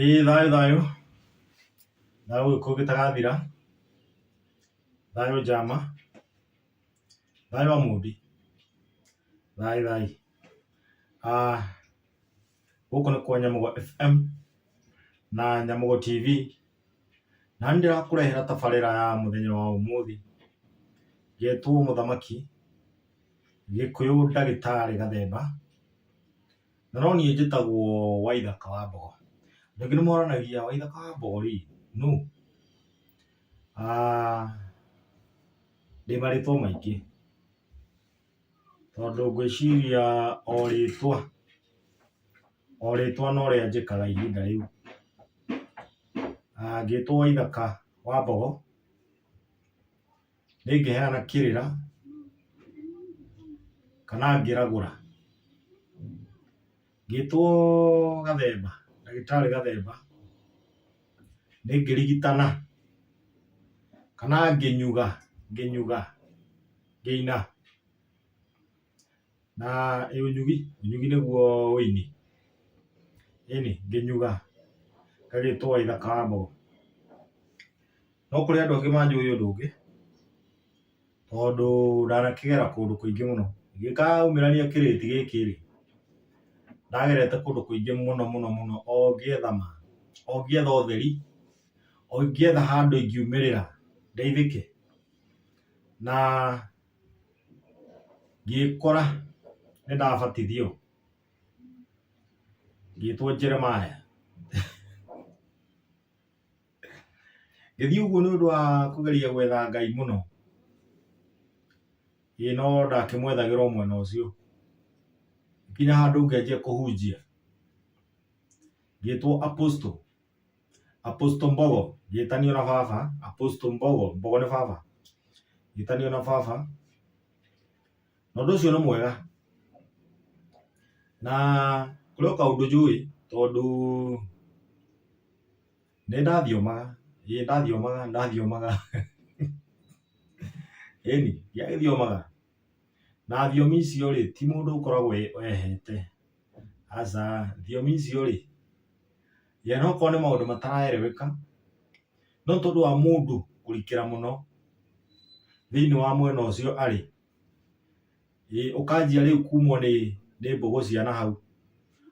ĩ thayũ thayũ thayũ gĩkũ gĩtagathira thayũ njama thayũ wa mũmbi thayũ thayũ ah, gũkũ nĩ kwa nyamũgo fm na nyamũgo tv na nĩ ndĩrakũrehera tabarĩra ya mũthenya wa ũmũthĩ ngetwo mũthamaki gĩkũyũ ndagĩtarĩ gathemba na no niĩ njĩtagwo waithaka wa mbogo andũ aingĩ nĩ moranagia waithaka wa mbogo rĩ nũ Ah, ndĩ marĩtwa maingĩ Tondũ ngwĩciria o rĩtwa, o rĩtwa no rĩa njĩkaga ihinda rĩu. Ngĩtwo Waithaka wa mbogo, nĩ ngĩheana kĩrĩra kana ngĩragũra. Ngĩtwo Gathemba, ndagĩtarĩ Gathemba, nĩ ngĩrigitana, kana ngĩnyuga, ngĩnyuga, ngĩina. Na ĩ ũnyugi? Ũnyugi nĩguo ũini? Ĩni, ngĩnyuga, ngagĩtwo Waithaka wa Mbogo. No kũrĩ andũ angĩ manjũĩ ũndũ ũngĩ. Tondũ ndanakĩgera kũndũ kũingĩ mũno. Ingĩkaumĩrania kĩrĩti gĩkĩ rĩ, ndagerete kũndũ kũingĩ mũno mũno mũno o ngĩetha ma, o ngĩetha ũtheri, o ngĩetha handũ ingiumĩrĩra ndeithĩke. Na ngĩkora nĩ ndabatithio, ngĩtwo Jeremiah. Ngĩthiĩ ũguo nĩ ũndũ wa kũgeria gwetha Ngai mũno. Ĩĩ no ndakĩmwethagĩra o mwena ũcio. Nginya handũ ngĩanjia kũhunjia, ngĩtwo Apostle, Apostle Mbogo, ngĩtanio na baba, Apostle Mbogo, Mbogo nĩ baba, ngĩtanio na baba. Na ũndũ ũcio nĩ mwega. Na kũrĩ o kaũndũ njũĩ tondũ... Nĩ ndathiomaga, ĩĩ ndathiomaga, nĩ ndathiomaga, ĩni ndiagĩthiomaga, na thiomi icio rĩ ti mũndũ ũkoragwo wĩyohete, aca, thiomi icio rĩ ye no okorwo nĩ maũndũ mataraereweka no tondũ wa mũndũ kũrikĩra mũno thĩinĩ wa mwena ũcio arĩ. Ĩĩ ũkanjia rĩu kumwo nĩ nĩ mbũgũ cia na hau,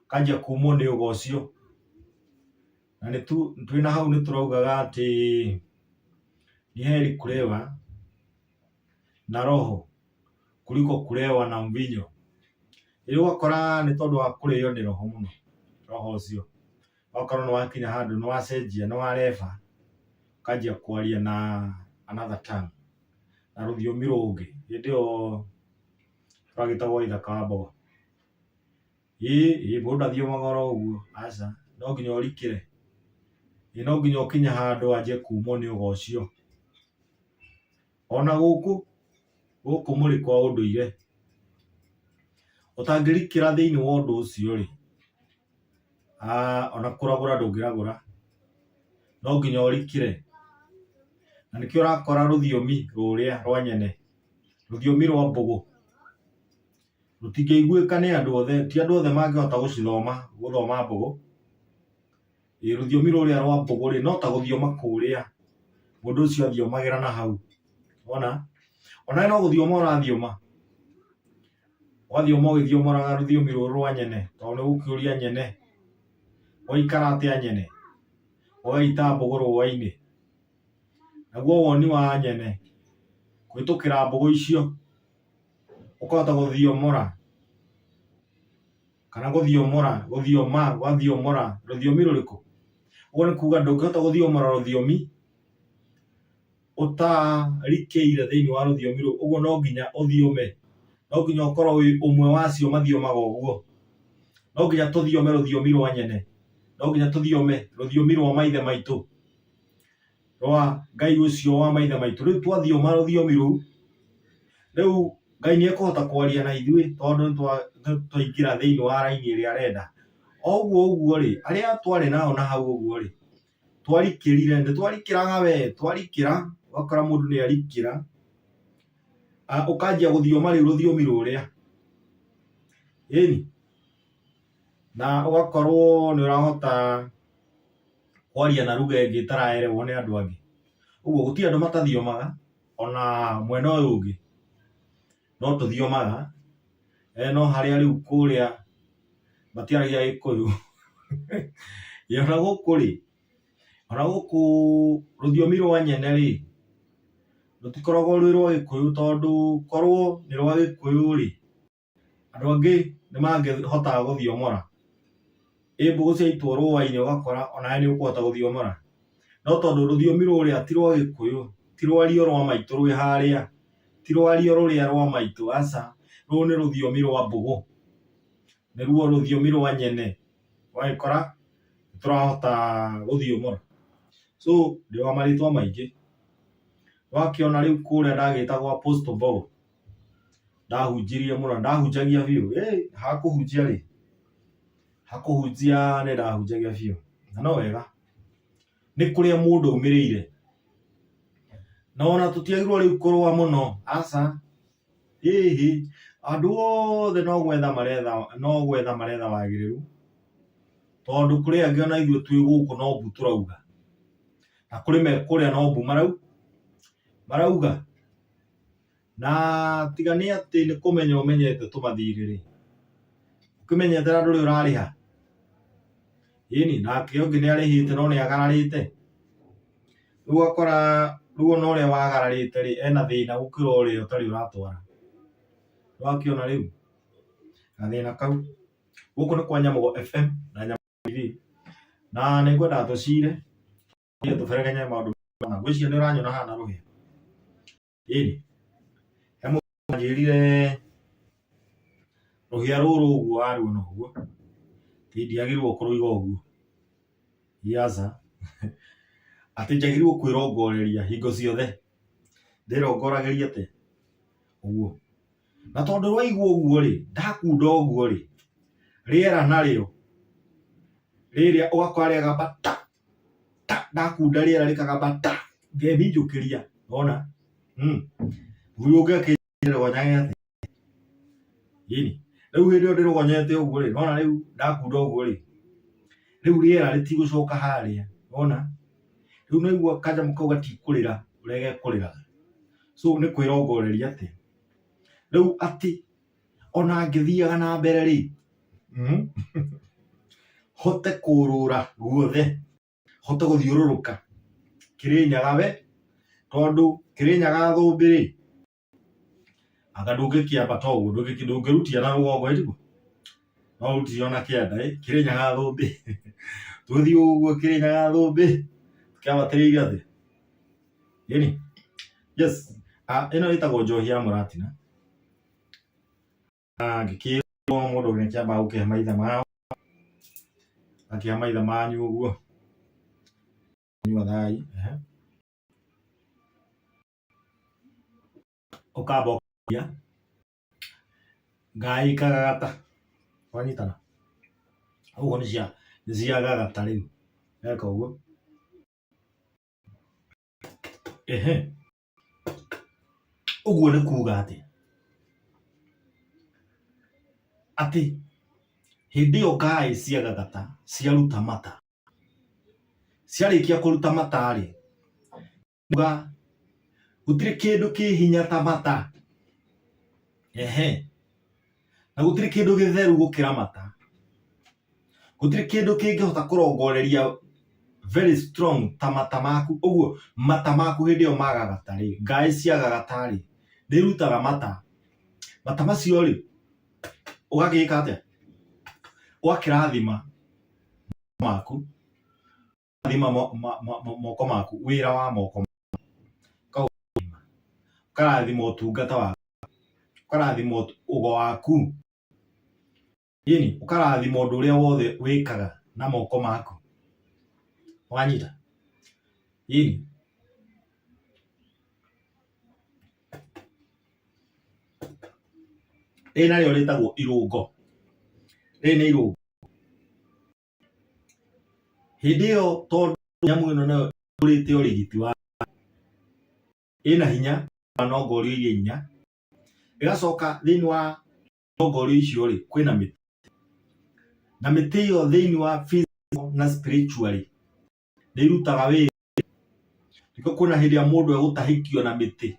ũkanjia kumwo nĩ ũgo ũcio. Na nĩ tu twĩ na hau nĩ tũraugaga atĩ, ni heri kulewa na roho kuliko kulewa na mvinyo. Rĩu ũgakora nĩ tondũ wa kũrĩo nĩ roho mũno, roho ũcio. okorwo nĩ wakinya handũ nĩ wacenjia nĩ wa refa, ũkanjia kwaria na another tongue, na rũthiomi rũngĩ, hĩndĩ ĩyo rwagĩtagwo either ka mbogo. Ĩ ĩ mũndũ ndathiomaga oro ũguo, aca, no nginya ũrikĩre, ĩ no nginya ũkinye handũ wanjie kumwo nĩ ũgocio. Ona gũkũ, gũkũ mũrĩ kwa ũndũire, ũtangĩrikĩra thĩiniĩ wa ũndũ ũcio-rĩ, Ah, ona kũragũra ndũngĩragũra no nginya ũrikire na nĩkĩo ũrakora rũthiomi rũrĩa rwa nyene rũthiomi rwa mbũgũ rũtingĩiguĩka nĩ andũ othe ti andũ othe mangĩhota gũcithoma gũthoma mbũgũ ĩ rũthiomi rũrĩa rwa mbũgũ rĩ no ta gũthioma kũrĩa mũndũ ũcio athiomagĩra na hau wona ona we no gũthioma ũrathioma Wathioma ũgĩthiomoraga rũthiomi rũrũ rwa nyene, tondũ nĩ gũkĩũria nyene, gwaikara atĩa nyene, gũgaita mbũgũ rũũa-inĩ. Naguo woni wa nyene, kũhĩtũkĩra mbũgũ icio, ũkahota gũthiomora, kana gũthiomora, gũthioma, wathiomora rũthiomi rũrĩkũ? Ũguo nĩ kuuga ndũngĩhota gũthiomora rũthiomi. ũtarikĩire thĩinĩ wa rũthiomi rũu ũguo no nginya ũthiome no nginya ũkorwo wĩ ũmwe wacio mathiomaga ũguo no nginya tũthiome rũthiomi rwa nyene no nginya tũthiome rũthiomi rwa maithe maitũ rwa ngai ũcio wa maithe maitũ rĩu twathioma rũthiomi rũu rĩu ngai nĩ ekũhota kwaria na ithuĩ tondũ nĩtwaingĩra thĩinĩ wa raini ĩrĩa arenda oguo ũguo rĩ arĩa twarĩ nao na hau ũguo rĩ Twarikĩrire, nĩtwarikĩraga we, twarikĩra, ũgakora mũndũ nĩarikĩra, ah, ũkanjia gũthioma rĩu rũthiomi rũrĩa. Ĩni. Na ũgakorwo nĩũrahota kwaria na ruga ĩngĩ ĩtaraerewo nĩ andũ angĩ. Ũguo gũtirĩ andũ matathiomaga, ona mwena ũyũ ũngĩ. no tũthiomaga eh, no harĩa rĩu kũrĩa matiaragia gĩkũyũ Ĩ, ona gũkũ rĩ ona gũkũ rũthiomi rwa nyene rĩ rũtikoragwo rwĩ rwa gĩkũyũ tondũ korwo nĩ rwa gĩkũyũ rĩ andũ angĩ nĩ mangĩhotaga gũthiomora ĩ mbũgũ ciaitwo rũũa-inĩ ũgakora onawe nĩũkũhota gũthiomora? No tondũ rũthiomi rũrĩa ti rwa gĩkũyũ, ti rwario rwa maitũ rwĩ harĩa, ti rwario rũrĩa rwa maitũ, aca, rũrũ nĩ rũthiomi rwa mbũgũ, nĩruo rũthiomi rwa nyene, ũgagĩkora nĩtũrahota gũthiomora. So ndĩwa marĩtwa maingĩ, nĩwakĩona rĩu kũrĩa ndagĩta gwa Apostle Paul. ndahunjirie mũno ndahunjagia biũ hakũhunjia rĩ hakũhunjia nĩ ndahunjagia biũ na no wega nĩ kũrĩa mũndũ aumĩrĩire na ona tũtiagirwo rĩu kũrũa mũno aca ĩhĩ andũ othe no gwetha maretha no gwetha maretha wagĩrĩru tondũ kũrĩ angĩ ona ithuĩ twĩ gũkũ no mbu tũrauga na kũrĩ me kũrĩa no mbu marauga. Na tiga nĩ atĩ nĩ kũmenya ũmenyete tũmathirĩ-rĩ, ũkĩmenyete na ndũrĩ ũrarĩha? Ĩni, nake ũngĩ nĩ arĩhĩte no nĩ agararĩte. Rĩu ũgakora rĩu ona ũrĩa wagararĩte-rĩ, ena thĩna gũkĩra ũrĩa ũtarĩ ũratwara. Nĩ wakĩona rĩu gathĩna kau? Gũkũ nĩ kwa Nyamũgo FM na Nyamũgo TV, na nĩ ngwenda tũcire, tũcire tũberegenye maũndũ, ngwĩciria nĩ ũranyona haha na rũhĩa. ĩni he mũndũ wanjĩrire rũhĩa rũrũ ũguo waruona ũguo atĩ ndiagĩrĩirwo kũrũiga ũguo yaza atĩ njagĩrĩirwo kwĩrongoreria hingo ciothe ndĩrongoragĩria atĩ ũguo na tondũ rwaigwo ũguo rĩ ndakunda ũguo rĩ rĩera narĩo rĩrĩa ũgakora rĩagamba ta ta ndakunda rĩera rĩkagamba ta ngeminjũkĩria ona hmm. mũthuri ũngĩ akĩrogonyage thĩ ini rĩu hĩndĩ ĩyo ndĩrogonyete ũguo rĩ nona rĩu ndakunda ũguo rĩ rĩu rĩera rĩtigũcoka harĩa ona rĩu naigua kanyamũ kau gatikũrĩra ũrĩa gekũrĩraga so nĩ kwĩrongoreria atĩ rĩu atĩ ona ngĩthiaga na mbere rĩ mm, hote kũrũra guothe hote gũthiũrũrũka kĩrĩnyaga we tondũ kĩrĩnyaga thũmbĩ rĩ anga ndũngĩkĩambata ũguo ndũngĩki- ndũngĩrutia na rũgongo ĩtiguo no ũrutire ona kĩanda ĩ kĩrĩnyaga thũmbĩ tũthiĩ ũguo kĩrĩnyaga thũmbĩ kĩambatĩrĩire thĩ ĩni yes Ah, ĩno ĩtagwo njohi ya mũratina angĩkĩrwo mũndũ nĩ kĩambaga gũkĩhe maithe mao akĩhe maithe manyu ũguo nyuathai ũkamba ũkĩria ngai kagagata wanyitana ũguo nĩ cia nĩ cia gagata rĩu eka ũguo ehe ũguo nĩ kuga atĩ atĩ hĩndĩ ĩyo ngaĩ cia gagata ciaruta mata ciarĩkia kũruta mata rĩ kuga gũtirĩ kĩndũ kĩ hinya ta mata ehe na gũtirĩ kĩndũ gĩtheru gũkĩra mata gũtirĩ kĩndũ kĩngĩhota kũrongoreria very strong ta mata maku ũguo mata maku hĩndĩ ĩyo magagata rĩ ngaĩ ciagagata rĩ nĩ irutaga mata mata macio rĩ ũgagĩka atĩa ũgakĩrathima maku thima mo- ma- ma- ma- moko maku wĩra wa moko maku. Ũkaũthima. ũkarathima ũtungata waku ũkarathima ũt- ũgo waku ĩni ũkarathima ũndũ ũrĩa wothe wĩkaga na moko maku wanyita ĩni rĩrĩ narĩo rĩtagwo irũngo rĩrĩ nĩ irũngo hĩndĩ ĩyo tondũ nyamũ ĩno nayo ĩkũrĩte ũrigiti wa ĩna hinya na no ngorio iria inya ĩgacoka thĩinĩ wa itongorio icio-rĩ kwĩna mĩtĩ na mĩtĩ ĩyo thĩinĩ wa physical na spiritually nĩ irutaga wĩra nĩkĩo kwĩna hĩndĩ ĩrĩa mũndũ egũtahĩkio na mĩtĩ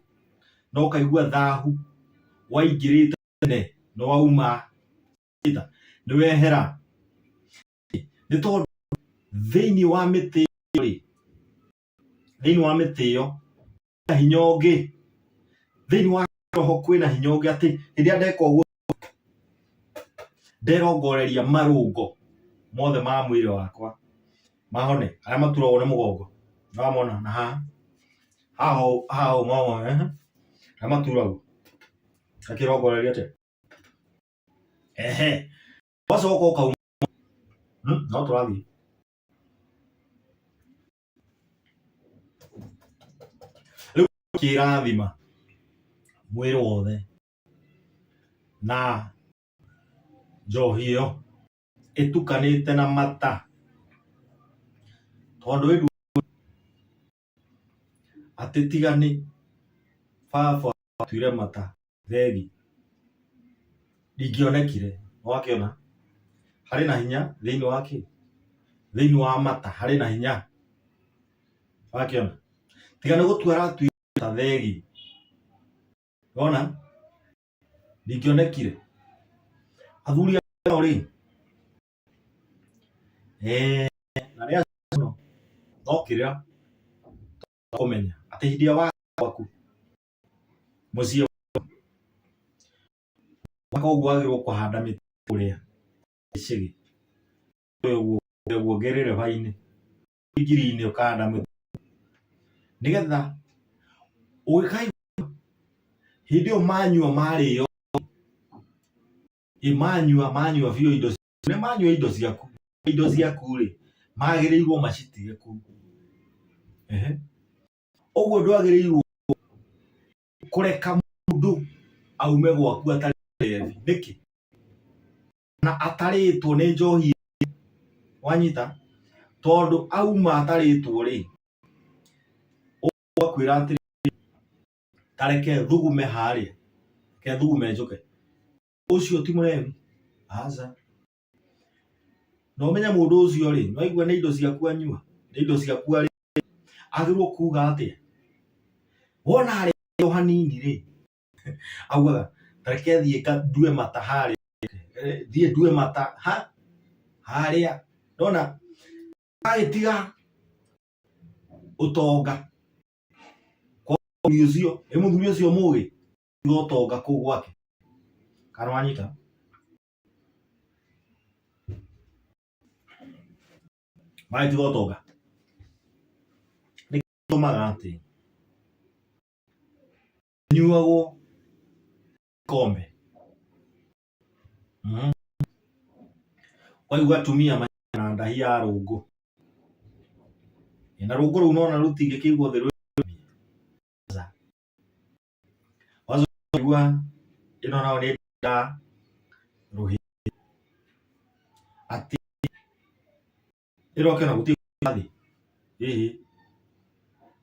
na ũkaigua thahu waingĩrĩte tene nĩ wauma nĩ wehera nĩ tondũ thĩinĩ wa mĩtĩ ĩyo-rĩ thĩinĩ wa mĩtĩ ĩyo na hinya ũngĩ thĩinĩ wa roho kwĩna hinya ũngĩ atĩ rĩrĩa ndeka ũguo nderongoreria marũngo mothe ma mwĩrĩ wakwa mahone arĩa maturagwo nĩ mũgongo ndamona na haha haha ũũ- haha ũũ mawona ehe, arĩa maturagwo akĩrongoreria atĩ ehe wacoka ũkauma Hmm, no tũrathiĩ rĩu kĩrathima mwĩrĩ wothe na njohi ĩyo ĩtukanĩte na mata tondũ Atĩ tiga nĩ baba watuire mata thegi ndingĩonekire. Nĩwakĩona? Harĩ na hinya thĩinĩ wa kĩ? Thĩinĩ wa mata harĩ na hinya. Nĩwakĩona? Tiga nĩ gũtua aratuire mata thegi. Nĩwona? Ndingĩonekire. Athuri aya nao rĩ, eh na rĩa no kĩrĩa kũmenya atĩ hĩndĩ wa waku mũciĩ mwaka ũguo wagĩrĩirwo kũhanda mĩtĩ kũrĩa gĩcĩgĩ guongerere bainĩ ngirini ũkahanda mĩtĩ nĩgetha ũgĩkaigua hĩndĩ ĩyo manyua marĩo imanyua manyua biũ indo nĩ manyua indo ciaku indo ciaku rĩ magĩrĩirwo macitige kuu ũguo ndwagĩrĩirwo kũreka mũndũ aume gwaku atarĩ revi nĩkĩ na atarĩtwo nĩ njohi wanyita tondũ auma atarĩtwo rĩ ũkwĩra atĩrĩ kareke thugume harĩa ke thugume njũke ũcio ti mũrewi aca na ũmenye mũndũ ũcio rĩ nĩwaigua nĩ indo ciaku anyua nĩ indo ciaku arĩ agĩrĩirwo kuga atĩa wona arĩ o hanini rĩ augaga tareke thiĩ ndue mata harĩa eh, thiĩ ndue mata ha harĩa ndona agĩtiga ũtonga mũthuri ũcio ĩ mũthuri ũcio mũgĩ no tonga kũu gwake kana wanyita maĩ tiga ũtonga nĩtũmaga atĩ nyuagwo kombe mm. Kwa hiyo atumia manyana ndahi ya rungu na rungu ruu nona rutige kigwo thi rwiza wazo igwa ino nao ni nda ruhi ati iroke na guti thi hihi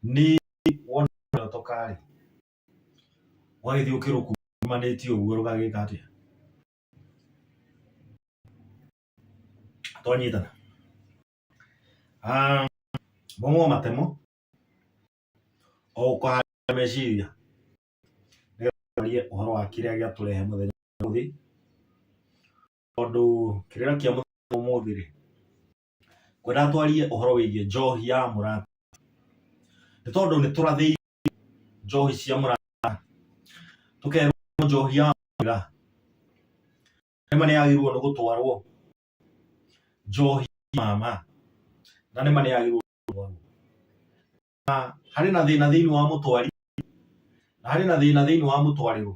ni wona tokari wagĩthiĩ ũkĩrũkumanĩtie ũguo rũgagĩka atĩa twanyitana ah, momwo matemo o ũkahanda meciria nĩgetharie ũhoro wa kĩrĩa gĩa tũrehe mũthenya ũmũthĩ tondũ kĩrĩra kĩa mũthenya ũmũthĩ rĩ ngwenda twarie ũhoro wĩgiĩ njohi ya mũrata nĩ tondũ nĩ tũrathĩire njohi cia mũrata tũkerwo njohi ya mũrata nĩma nĩ yagĩrĩirwo nĩ gũtwarwo njohi mama na nĩma nĩ yagĩrĩirwo gũtwarwo na harĩ na thĩna thĩinĩ wa mũtwari na harĩ na thĩna thĩinĩ wa mũtwarĩrwo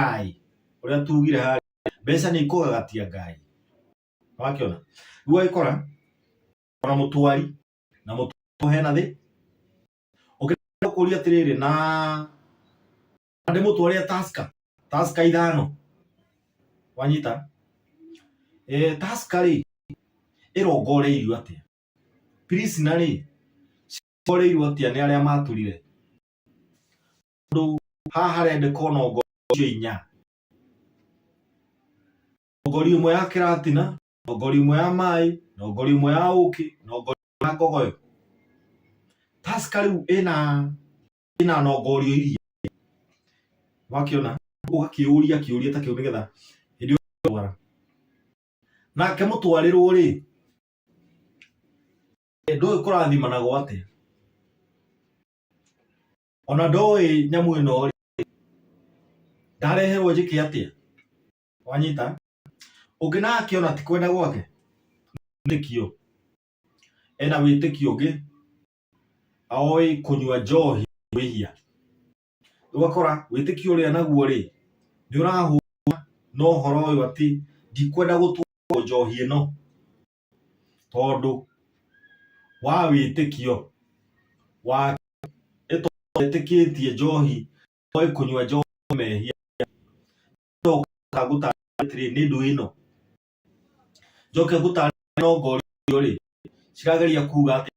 Ngai uria tugire hari mbeca ni ikugagatia Ngai wakiona riu agikora ona mutuari na mutuari hena thi ukirenda kuria atiriri na ndi mutware taska taska ithano wanyita eh taska ri irongoreirio atia please na ri cirongoreirio atia ni aria maturire tondũ haha harendeka ona ongorio inya ongorio ĩmwe ya kĩratina ongorio ĩmwe ya maĩ na ongorio ĩmwe ya ũkĩ na ongorio ĩmwe ya ngogoyo taska rĩu ĩna ĩna nongorio iria wakĩona ũgakĩũria kĩũria ta kĩu nĩgetha hĩndĩ ĩyo nake mũtwarĩrwo rĩ ndũĩ kũrathimanagwo atĩa ona ndoĩ nyamũ ĩno rĩ ndareherwo njĩke atĩa wanyita ũngĩ nake ona ti kwenda gwake wĩtĩkio ena wĩtĩkio ũngĩ aoĩ kũnyua njohi wĩhia ũgakora wĩtĩkio ũrĩa naguo rĩ nĩ ũrahũra no ũhoro ũyũ atĩ ndikwenda gũtwarwo njohi ĩno tondũ wa wĩtĩkio wa etĩkĩtie njohi oĩ kũnyua njohi mehia gũtara atĩrĩ nĩ ndũ ĩno njoke gũtara no ngori icio rĩ cirageria kuga atĩ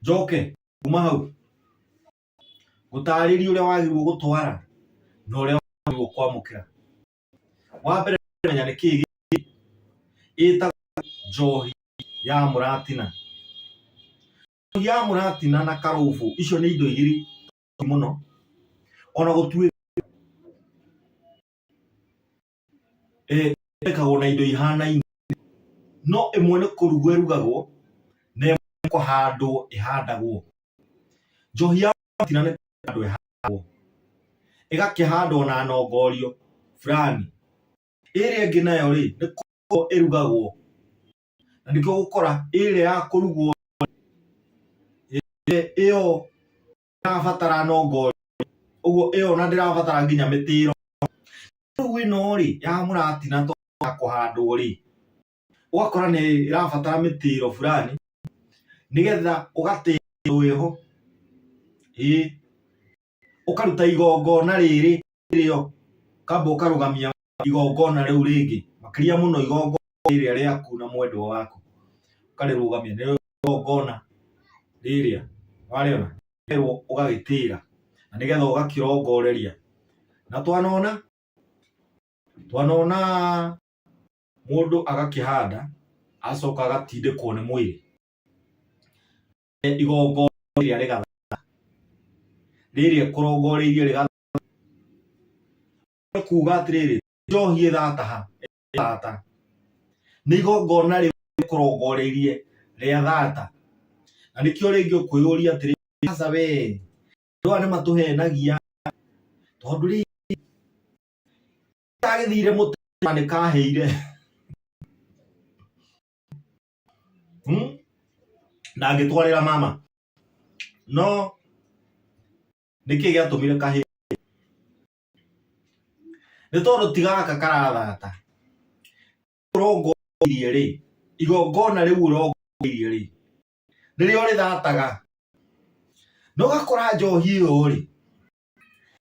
njoke kuma hau gũtarĩria ũrĩa wagĩrĩirwo gũtwara na ũrĩa wagĩrĩirwo kwamũkĩra wa mbere menya nä kä ä njohi ya må ratina njohi ya må ratina na karå icio nä indo igä rä må no ona gå tuä ĩthondekagwo na indo ihanaine no ĩmwe nĩ kũrugwo ĩrugagwo na ĩmwe nĩ kũhandwo ĩhandagwo. njohi ya matina nĩ andũ ĩhandagwo ĩgakĩhandwo na nongorio fulani ĩrĩa ĩngĩ nayo rĩ nĩ kũrugwo ĩrugagwo na nĩkĩo gũkora ĩrĩa ya kũrugwo ĩyo ĩrabatara nongorio ũguo ĩyo ona ndĩrabatara nginya mĩtĩro rĩu ĩno rĩ ya mũratina to ya kũhandwo rĩ ũgakora nĩ ĩrabatara mĩtĩro fulani nĩgetha ũgatĩrwo wĩho ĩĩ ũkaruta igongona rĩrĩ rĩo kamba ũkarũgamia igongona rĩu rĩngĩ makĩria mũno igongona rĩrĩa rĩaku na mwendwa waku ũkarĩrũgamia nĩ igongona rĩrĩa warĩona rĩrwo ũgagĩtĩra na nĩgetha ũgakĩrongoreria na twanona twanona mũndũ agakĩhanda acoka agatindĩkwo nĩ mwĩrĩ igongo rĩrĩa rĩgathaa rĩrĩa kũrongoreirie rĩgathaa kuuga atĩrĩrĩ njohi ĩthataha ĩthata nĩ igongona rĩu rĩkũrongoreirie rĩa thata na nĩkĩo rĩngĩ ũkwĩyũria atĩrĩ aca we andũ aya nĩ matũhenagia tondũ rĩrĩ tagĩthire mũtĩ na nĩ kahĩire hmm? na ngĩtwarĩra mama no nĩkĩ gĩatũmire kahĩire nĩ tondũ ti gaka karathata ũrongoirie rĩ igongona rĩu ũrongoirie rĩ nĩrĩo rĩthataga na ũgakora njohi ĩyo rĩ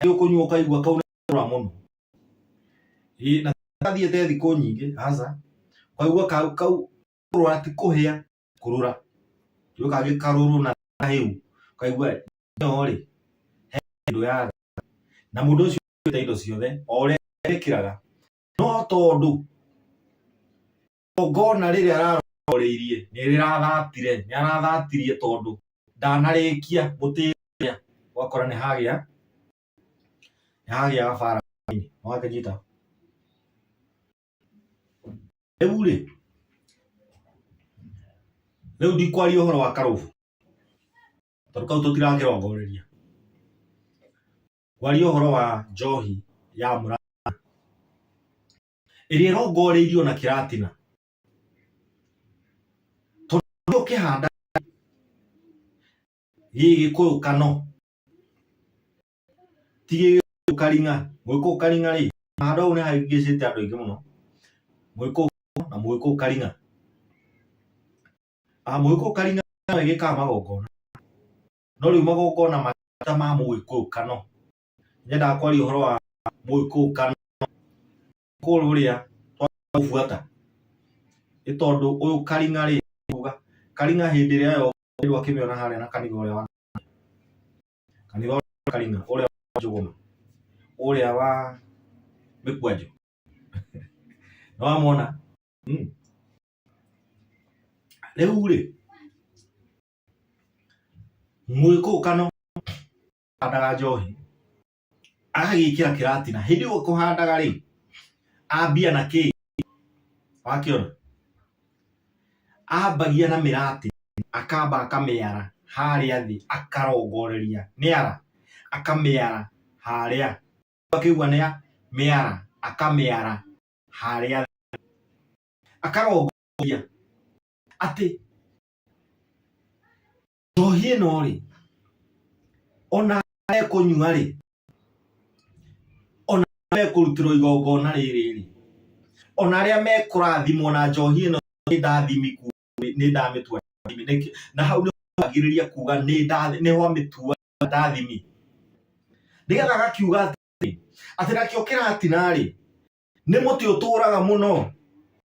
ndio kunywa ukaigua kauna ra muno ii na kathie te thiku nyingi hasa kwaigua kau kau rwa ti kuhia kurura ndio kage karuru na hiu kaigua nyo ri he ndu ya na mundu ucio ta indo ciothe ore ekiraga no tondu igongona rĩrĩa ararongoreirie nĩ rĩrathatire nĩ arathatirie tondũ ndanarĩkia gũtĩĩa wakora nĩ hagĩa nĩ hagĩa gabara wakanyita rĩu rĩ rĩu ndikwaria ũhoro wa karũbu tondũ kau tũtirakĩrongoreria kwaria ũhoro wa njohi ya mũra ĩrĩa ĩrongoreirio na kĩratina tondũ ũkĩhanda gĩgĩkũyũ kano ti gĩgĩkũyũ karinga mũgĩkũyũ karinga rĩ handa ũũ nĩ hahĩngĩcĩte andũ aingĩ mũno mũgĩkũyũ na mũgĩkũyũ karinga a ah, mũgĩkũyũ karinga ĩgĩkaga magongona no rĩu magongona mata ma mũgĩkũyũ kano nyendaga kwaria horo wa mũgĩkũũ kana kũũ rũrĩa twabuata nĩ tondũ ũyũ karinga rĩ kuga karinga hĩndĩ ĩrĩa yo ndũ akĩmĩona harĩa na kanitha ũrĩa wa kanitha wa karinga ũrĩa wa njũgũma ũrĩa wa mĩkwanjũ nĩ wamwona hmm. rĩu rĩ mũgĩkũũ kano handaga njohi agagĩkĩra kĩratina hĩndĩ ĩyo kũhandaga rĩ ambia na kĩ wakĩona ambagia na mĩratĩ akamba akamĩara harĩa thĩ akarongoreria nĩara akamĩara harĩa akĩigua nĩa mĩara akamĩara harĩa akarongoria atĩ njohi ĩno rĩ ona ekũnyua rĩ ona mekũrutĩrwo igongona rĩrĩ rĩ ona arĩa mekũrathimwo na njohi ĩno nĩ ndathimi nĩ ndamĩtua na hau nĩ agĩrĩria kuga nĩ ndathimi nĩ ho amĩtua ndathimi nĩgetha agakiuga atĩ nakĩo kĩratina rĩ nĩ mũtĩ ũtũraga mũno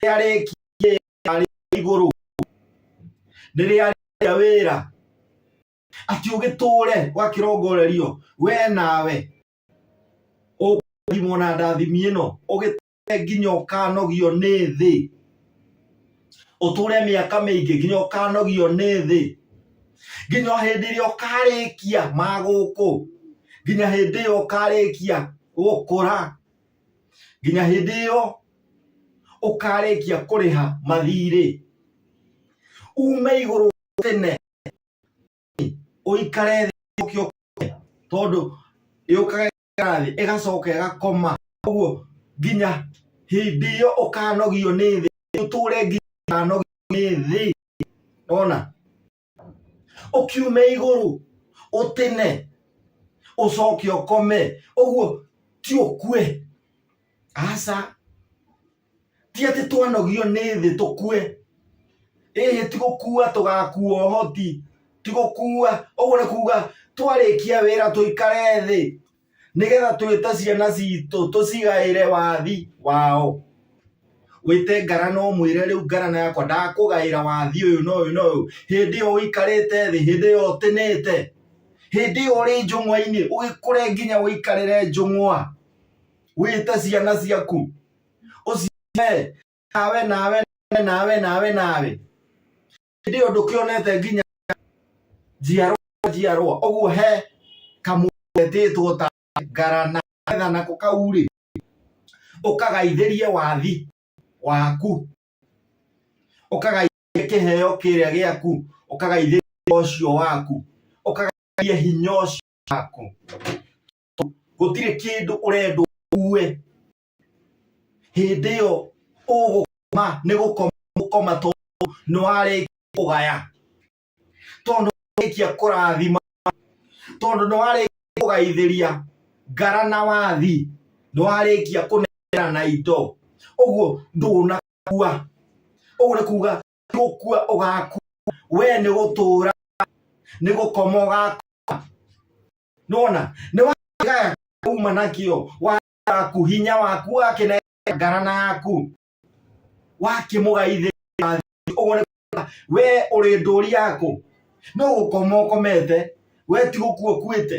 rĩrĩa rĩkiĩ arĩ igũrũ rĩrĩa rĩa wĩra ati ũgĩtũre ũgakirongorerio we nawe ũkũthimwo na ndathimi ĩno ũgĩtũre nginya ũkanogio nĩ thĩ ũtũre mĩaka mĩingĩ nginya ũkanogio nĩ thĩ nginya hĩndĩ ĩrĩa ũkarĩkia magũkũ nginya hĩndĩ ĩyo ũkarĩkia gũkũra nginya hĩndĩ ĩyo ũkarĩkia kũrĩha mathirĩ ume igũrũ tene ũikare thĩ tondũ yũkaga thĩ ĩgacoka ĩgakoma ũguo nginya hĩndĩ ĩyo ũkanogio nĩ thĩ ũtũre nginya ũkanogio nĩ thĩ ona ũkiume igũrũ ũtĩne ũcoke ũkome ũguo ti ũkue aca ti atĩ twanogio nĩ thĩ tũkue ĩhĩ ti gũkua tũgakua ũhoti ti gũkua ũguo nĩ kuga twarĩkia wĩra tũikare thĩ nĩgetha twĩte ciana citũ tũcigaĩre wathi wao wĩte ngara no mwĩre rĩu ngara na yakwa ndakũgaĩra wathi ũyũ na ũyũ na ũyũ hĩndĩ ĩyo ũikarĩte thĩ hĩndĩ ĩyo ũtĩnĩte hĩndĩ ĩyo ũrĩ njũng'wa-inĩ ũgĩkũre nginya ũikarĩre njũng'wa wĩte ciana ciaku ũcihe nawe nawe nawe nawe nawe hĩndĩ ĩyo ndũkĩonete nginya njiarwa njiarwa ũguo he kamwetĩtwo ta ngarana getha nako kau-rĩ ũkagaithĩrie wathi waku ũkagaithĩrie kĩheo kĩrĩa gĩaku ũkagaithĩrie ũcio waku ũkagaithĩrie hinya ũcio waku gũtirĩ kĩndũ ũrendwo uue hĩndĩ ĩyo ũgũkoma nĩ gũkoma gũkoma tondũ nĩ warĩkia kũgaya tondũ warĩkia kũrathima tondũ nĩ warĩkia kũgaithĩria ngara na wathi nĩ warĩkia kũnera na indo ũguo ndũnakua ũguo nĩ kuga ndũkua ũgakua we nĩ gũtũra nĩ gũkoma ũgakoma nona nĩ wagaya kuma nakĩo waku hinya waku wakinengera ngara naku wakimũgaithĩra ũguo we ũrĩ ndũri yaku no gũkoma ũkomete we ti gũkua ũkuĩte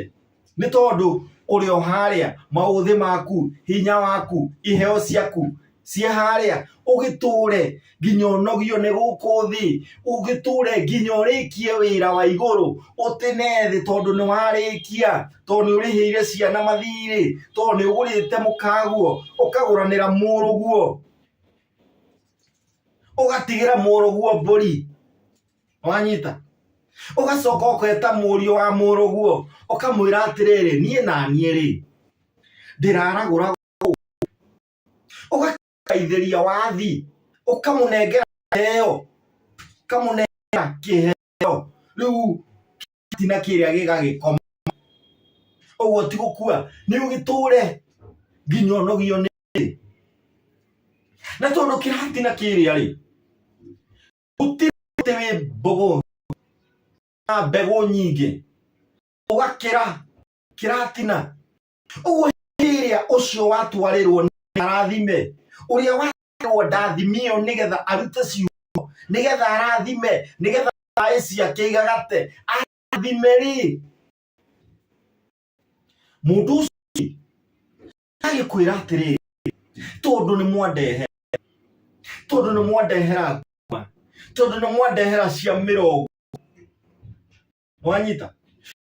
nĩ tondũ ũrĩ o harĩa maũthĩ maku hinya waku iheo ciaku cia harĩa ũgĩtũre nginya ũnogio nĩ gũkũ thĩ ũgĩtũre nginya ũrĩkie wĩra wa igũrũ ũtĩne thĩ tondũ nĩ warĩkia tondũ nĩ ũrĩhĩire ciana mathirĩ tondũ nĩ ũgũrĩte mũkaguo ũkagũranĩra mũrũguo ũgatigĩra mũrũguo mbũri wanyita ũgacoka ũketa mũriũ wa mũrũguo ũkamwĩra atĩrĩrĩ niĩ na niĩ rĩ ndĩraragũra ũgakaithĩria wathi ũkamũnengera kĩheo ũkamũnengera kĩheo rĩu tina kĩrĩa gĩgagĩkoma ũguo ti gũkua nĩ ũgĩtũre nginya ũnogio nĩ na tondũ kĩratina kĩrĩa rĩ gũtirĩ mũtĩ wĩ mbũgũ na mbegũ nyingĩ ũgakĩra kĩratina ũguo ĩrĩa ũcio watwarĩrwo nĩ arathime ũrĩa watwarĩrwo ndathimio nĩgetha arute ciugo nĩgetha arathime nĩgetha aĩ ciake igagate arathime rĩ mũndũ ũcio agĩkwĩra atĩrĩrĩ tondũ nĩ mwandehera tondũ nĩ mwandehera nguma tondũ nĩ mwandehera cia mĩrongo mwanyita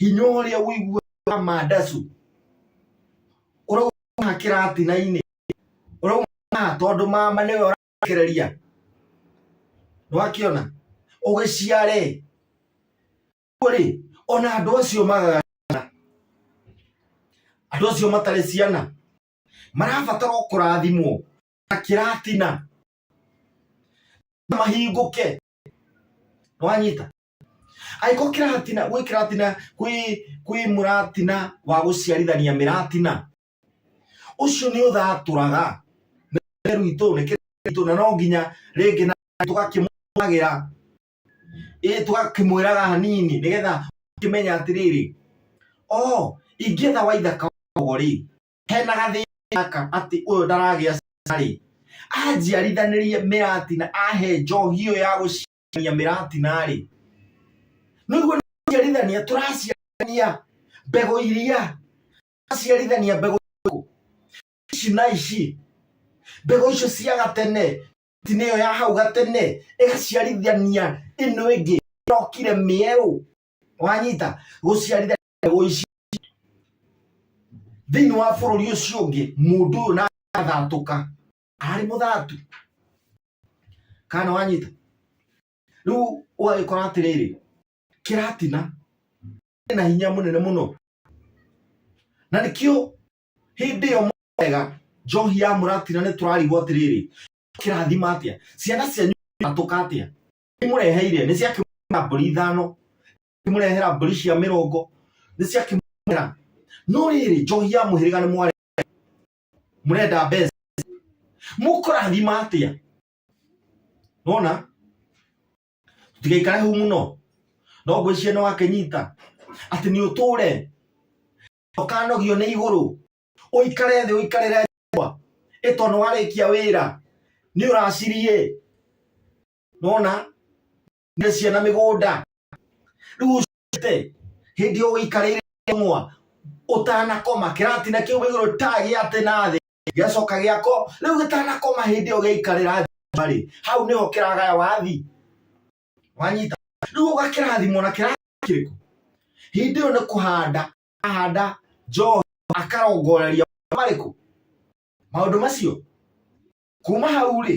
hinya ũrĩa ũiguaga mandacu ũrauma kĩratina-inĩ ũrauma tondũ mama nĩwe ũrarekereria nĩwakĩona ũgĩciare rĩ ona andũ acio magana andũ acio matarĩ ciana marabatara kũrathimwo na kĩratina mahingũke nĩwanyita angĩkorwo kĩratina gwĩ kĩratina kwĩ kwĩ mũratina wa gũciarithania mĩratina ũcio nĩ ũthatũraga meru itũ nĩ kĩritũ na no nginya rĩngĩ na tũgakĩmwagĩra ĩ tũgakĩmwĩraga hanini nĩgetha ũkĩmenya atĩrĩrĩ o ingĩetha waitha kaogo rĩ hena gathĩna gaka atĩ ũyũ ndaragĩa ciana rĩ anjiarithanĩrie mĩratina ahe njohi ĩyo ya gũciara tũraciarithania mĩratina-rĩ, nĩguo tũraciarithania tũraciarithania mbegũ iria tũraciarithania mbegũ ici na ici mbegũ icio cia gatene mĩratina ĩyo ya hau gatene ĩgaciarithania ĩno ĩngĩ ĩrokire mĩerũ wanyita gũciarithania mbegũ ici thĩinĩ wa bũrũri ũcio ũngĩ mũndũ ũyũ nake agathatũka. arĩ mũthatu kana wanyita rĩu ũgagĩkora atĩrĩrĩ kĩratina na hinya mũnene mũno na nĩkĩo hĩndĩ ĩyo mwega njohi ya mũratina nĩ tũrarigwo atĩrĩrĩ kĩrathima atĩa ciana cianyu atũka atĩa imũreheire nĩ ciakĩmũrehera mbũri ithano imũrehera mbũri cia mĩrongo nĩ ciakĩmũrehera no rĩrĩ njohi ya mũhĩrĩga nĩ mware murenda mbeca mukurathima atia nona tigaikare hau muno no ngwĩciria nĩ wakĩnyita atĩ nĩ ũtũre ũkanogio nĩ igũrũ ũikare thĩ ũikarĩre njũa ĩto nĩ warĩkia wĩra nĩ ũraciriĩ nona nĩ ciana mĩgũnda rĩu ũcite hĩndĩ ĩyo ũikarĩire mwa ũtanakoma kĩratina kĩu igũrũ ta gĩa atĩ na thĩ gĩacoka gĩako rĩu gĩtanakoma hĩndĩ ĩyo gĩaikarĩra thĩ hau nĩho kĩragaya wathi wanyita rĩu ũgakĩrathimwo na kĩrathimo kĩrĩkũ hĩndĩ ĩyo nĩ kũhanda ahanda njohi akarongoreria marĩkũ maũndũ macio kuma hau rĩ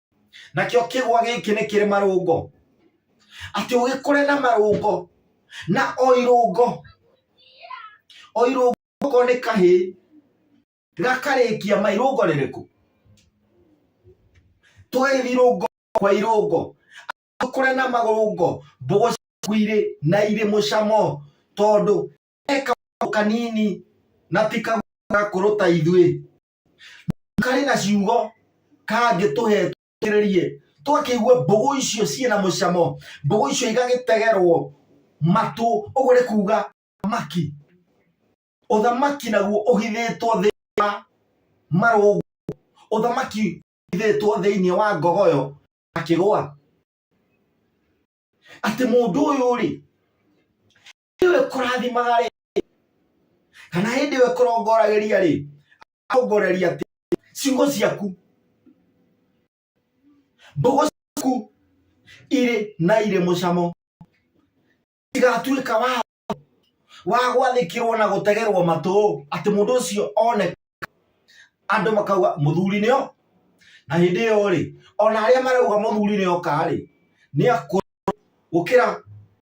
nakĩo kĩgwa gĩkĩ nĩ kĩrĩ marũngo atĩ ũgĩkore na marũngo na o irũngo o irũngo okorwo nĩ kahĩ gakarĩkia ma irũngo rĩrĩkũ tũgagĩthiĩ irũngo kwa irũngo ũkore na marũngo mbogo ciaku irĩ na irĩ mũcamo tondũ eka kanini na ti kagakũrũ ta ithuĩ karĩ na ciugo kangĩ tũhetũkĩrĩrie tũgakĩigua mbũgũ icio ciĩ na mũcamo mbũgũ icio igagĩtegerwo matũ ũguo nĩ kuga thamaki ũthamaki naguo ũhithĩtwo thĩinĩ wa marũngũ ũthamaki ũhithĩtwo thĩinĩ wa ngogoyo akĩgwa atĩ mũndũ ũyũ rĩ ĩyo ĩkũrathimaga rĩ kana hĩndĩ ĩyo ĩkũrongoragĩria rĩ arongoreria atĩ ciugo ciaku mbogo ciaku irĩ na irĩ mũcamo igatuĩka wa wa gwathĩkĩrwo na gũtegerwo matũ atĩ mũndũ ũcio one andũ makauga mũthuri nĩo na hĩndĩ ĩyo rĩ ona arĩa marauga mũthuri nĩoka rĩ nĩ akũ gũkĩra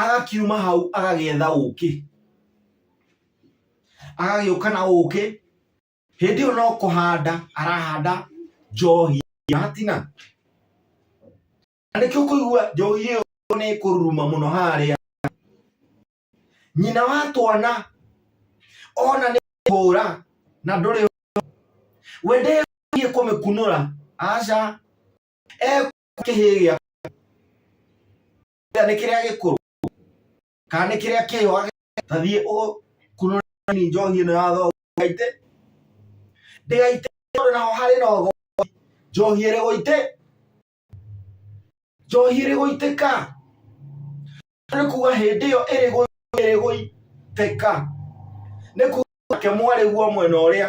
agakiuma hau agagĩetha ũkĩ agagĩũka na ũkĩ hĩndĩ ĩyo no kũhanda arahanda njohi ya hatina na nĩkĩo kũigua njohi ĩyo nĩ kũruruma mũno harĩa nyina wa twana ona nĩ hũra na ndũrĩ wende kũmĩkunũra aca kĩhĩĩ gĩa nĩ kĩrĩa gĩkũrũ kana nĩ kĩrĩa kĩho tathiĩ ũkunũrani njohi ĩno ya thogo gaitĩ ndĩgaitĩ tondũ naho harĩ na ũgo njohi ĩrĩ gũitĩ njohi ĩrĩ gũitĩka nĩ kuga hĩndĩ ĩyo ĩrĩ gũitĩka nĩ kuga ke mwarĩguo mwena ũrĩa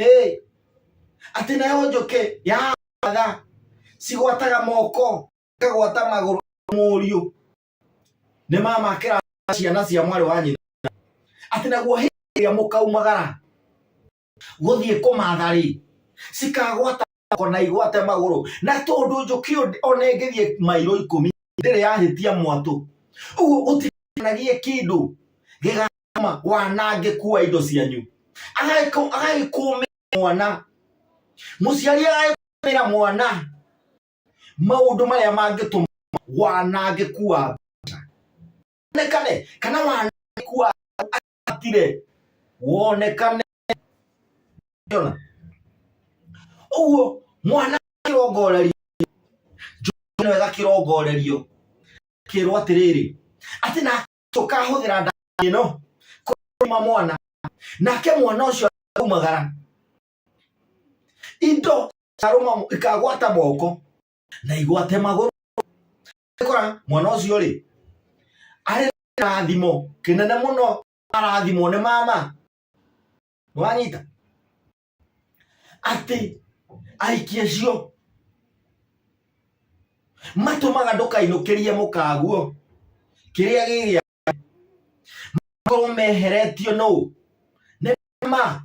Hey, atĩ nayo njũkĩ ya watha cigwataga moko kagwata magũrũ mũriũ nĩ mamakĩra ciana cia mwarĩ wa nyina atĩ naguo hĩndĩ ĩrĩa mũkaumagara gũthiĩ kũmatha rĩ cikagwata yako na igwate magũrũ na tondũ njũkĩ ona ĩngĩthiĩ mairo ikũmi ndĩrĩ yahĩtia mwatũ ũguo gũtikanagie kĩndũ gĩgama wanangĩku wa indo cianyu agagĩkũmĩra mwana mũciari agagĩkũmĩra mwana maũndũ marĩa mangĩtũma wanangĩku wa mbeca kana wanangĩku wa atire wonekane ndona uguo mwana kirongorerio njũkĩno ĩga kĩrongorerio kĩrwo atĩrĩrĩ atĩ na tũkahũthĩra ndawa ĩno kũrima mwana nake mwana ũcio aumagara indo ikarũma ikagwata moko na igwate magũrũ kora mwana ucio ri ari rathimo kinene muno arathimo ni mama wanyita ati aikie cio matumaga ndukainukirie mukaguo kiria gigia korwo meheretio no nĩ ma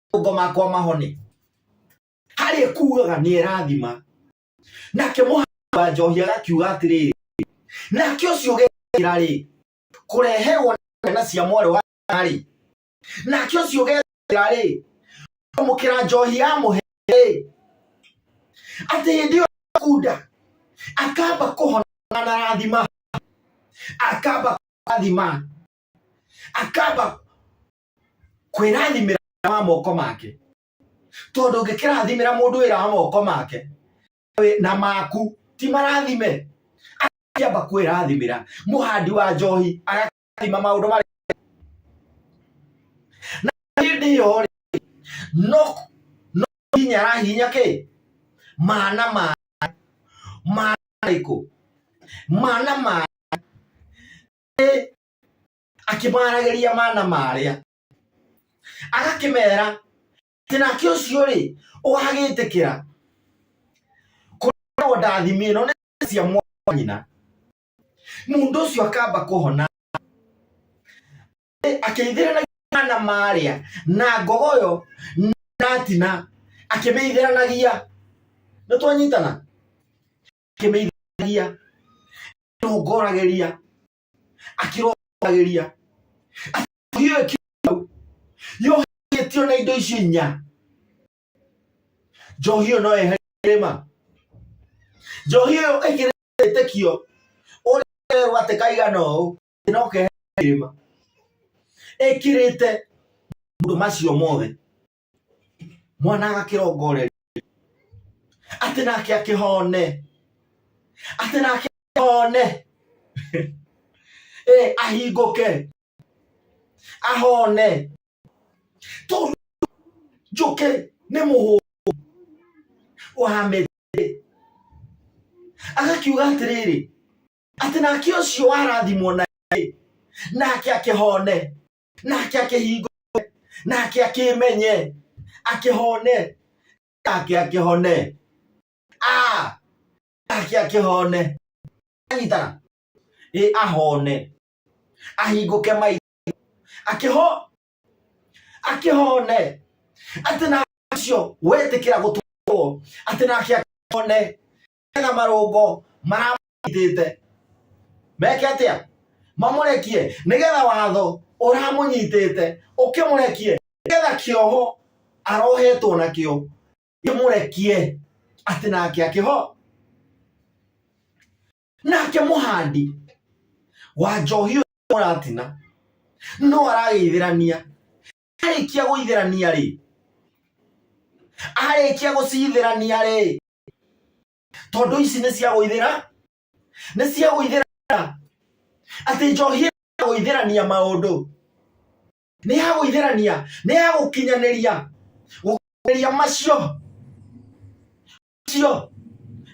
maũngo makwa mahone harĩ kugaga nĩ erathima nake mũhamba njohi agakiuga atĩrĩrĩ nake ũcio ũgekĩra rĩ kũreherwo na cia mwarĩ wa rĩ nake ũcio ũgekĩra rĩ kũmũkĩra njohi ya mũhe rĩ atĩ hĩndĩ ĩyo kunda akamba kũhona na rathima akamba kũrathima akamba kwĩrathimĩra wa moko make tondũ ũngĩkĩrathimĩra mũndũ wĩra wa moko make na maku ti marathime akĩamba kwĩrathimĩra mũhandi wa njohi agakĩrathima maũndũ marĩa na hĩndĩ ĩyo rĩ no no hinya arahinya kĩ mana ma mana rĩkũ mana ma akĩmaaragĩria mana marĩa agakĩmera atĩ nake ũcio rĩ ũgagĩtĩkĩra kũrĩo ndathimi ĩno nĩ cia mwanyina mũndũ ũcio akamba kũhona akĩithĩra na mana marĩa na ngogoyo natina akĩmĩithĩranagia nĩ twanyitana akĩmĩithĩranagia ndũngoragĩria akĩrogagĩria hiyo ĩkiu yohetio na indo icio inya njohi ĩyo no yeherie irĩma njohi ĩyo ĩkĩrĩ wĩtĩkio ũrĩa gwatĩ kaigana ũũ no keherie irĩma ĩkĩrĩte maũndũ macio mothe mwana agakĩrongoreri atĩ nake akĩhone atĩ nake one eh, ahingũke ahone tondũ njũkĩ nĩ mũhũũ wa mĩtĩ agakiuga atĩrĩrĩ atĩ nake ũcio warathimwo na nake akĩhone nake akĩhingũre nake akĩmenye akĩhone nake akĩhone ah! nake akĩhone anyitana ĩ ahone ahingũke mai akĩho akĩhone atĩ na acio wetikira gũtwarwo atĩ nake akĩhone na marũngo maramũnyitĩte meke atĩa mamũrekie nĩgetha watho ũramũnyitĩte ũkĩmũrekie nĩgetha kĩoho arohetwo nakĩo kĩmũrekie atĩ nake akĩho nake mũhandi wa njohi ũratina no aragĩithĩrania arĩkia gũitherania rĩ arĩkia gũcitherania rĩ tondũ ici nĩ cia gũithĩra nĩ cia gũithĩra atĩ njohi ya gũithĩrania maũndũ nĩ ya gũithĩrania nĩ ya gũkinyanĩria gũkinyanĩria macio macio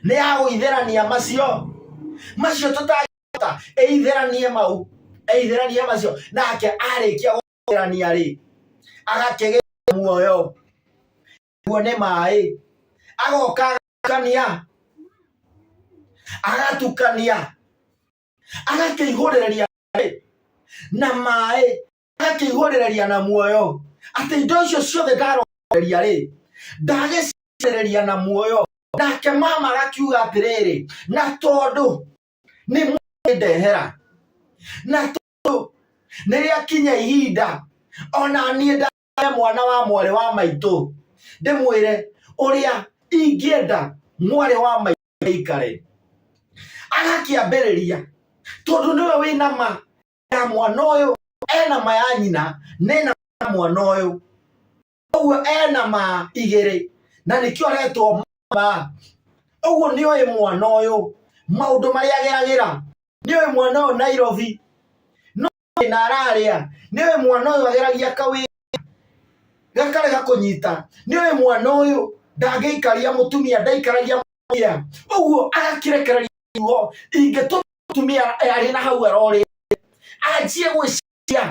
nĩ ya gũitherania macio macio tũtangĩhota ĩitheranie mau ĩitheranie macio nake arĩkia gũitherania rĩ agakĩgĩa muoyo guo nĩ maĩ agoka agatukania agatukania agakĩihũrĩrĩria na maĩ akĩihũrĩrĩria na muoyo atĩ indo icio ciothe ndaroreria rĩ ndagĩcirĩrĩria na muoyo nake mama agakiuga atĩrĩrĩ na tondũ nĩ mwendehera na tondũ nĩ rĩakinya ihinda ona niĩ ndare mwana wa mwarĩ wa maitũ ndĩmwĩre ũrĩa ingĩenda mwarĩ wa maitũ aikare agakĩambĩrĩria tondũ nĩwe wĩna ma na mwana uyu ena ma ya nyina nena mwana uyu uguo ena ma igiri na nikio aretwo ma uguo ni oy mwana uyu maundu maria ageragira ni oy mwana uyu Nairobi no na araria ni oy mwana uyu ageragia kawi gakarega kunyita ni oy mwana uyu ndangĩikaria mũtumia ndaikaragia mũtumia ũguo agakirekereria ruo ingĩtũma mutumia arĩ na hau arorĩ anjie gwĩciria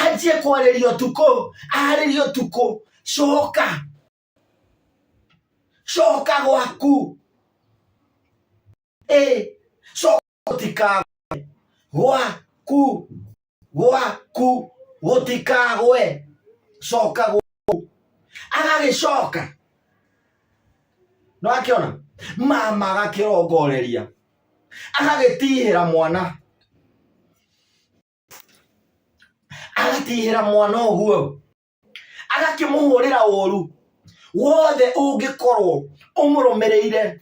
anjie kwarĩria ũtukũ arĩria ũtukũ coka coka gwaku ĩ coka ũtikagwe gwaku gwaku gutikagwe coka gwaku agagicoka no akiona mama agakirongoreria agagitihira mwana agatihira mwana uguo agakimuhurira uru wothe ungikorwo umurumirire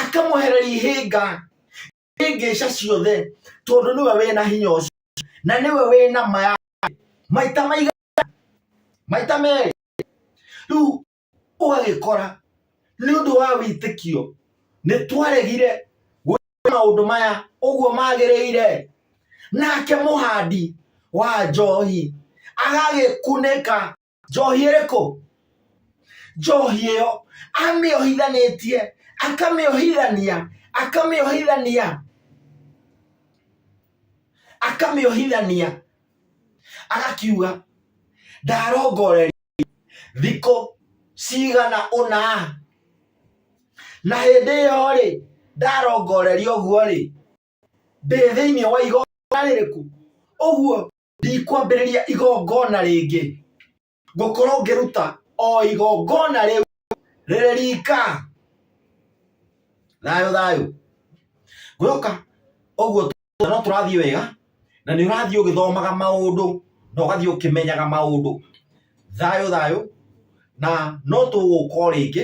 akamuhereria ihinga ngĩca ciothe tondũ nĩwe wĩna hinya ũcio na nĩwe wĩna maya maita maigana maita merĩ rĩu ũgagĩkora nĩ ũndũ wa wĩtĩkio nĩ twaregire gwĩka maũndũ maya ũguo magĩrĩire nake mũhandi wa njohi agagĩkunĩka njohi ĩrĩkũ njohi ĩyo amĩohithanĩtie akamĩohithania akamĩohithania akamĩohithania agakiuga ndarongoreri thikũ cigana ũna na hĩndĩ ĩyo rĩ ndarongoreria ũguo rĩ ndĩ thĩinĩ wa igongona rĩrĩkũ ũguo ndikwambĩrĩria igongona rĩngĩ ngũkorwo ngĩruta o igongona rĩu rĩrĩ rika thayũ thayũ gwĩoka ũguo no tũrathiĩ wega na nĩ ũrathiĩ ũgĩthomaga maũndũ na ũgathiĩ ũkĩmenyaga maũndũ thayũ thayũ na no tũgũka rĩngĩ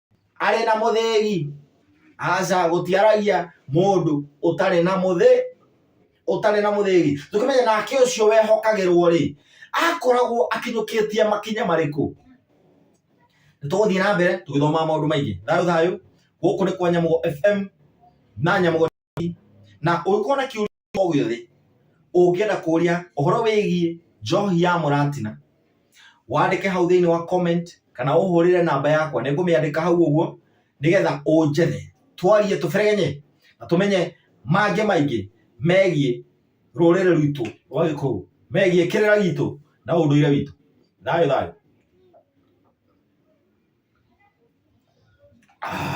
arĩ na mũthĩgi aca gũtiaragia mũndũ ũtarĩ na mũthĩ ũtarĩ na mũthĩgi tũkĩmenya nake ũcio wehokagĩrwo rĩ akoragwo akinyũkĩtie makinya marĩkũ nĩtũgũthiĩ na mbere tũgĩthomaga maũndũ maingĩ thayũ thayũ gũkũ nĩ kwa nyamũgo fm na nyamũgo na ũngĩkorwo na kĩũria o gĩothe ũngĩenda kũria ũhoro wĩgiĩ njohi ya mũratina wandĩke hau thĩinĩ wa comment kana ũhũrĩre namba yakwa nĩ ngũmĩandĩka hau ũguo nĩgetha ũnjethe twarie tũberegenye na tũmenye mangĩ maingĩ megiĩ rũrĩrĩ rwitũ rwa gĩkũyũ megiĩ kĩrĩra gitũ na ũndũire witũ thayũ thayũ ah.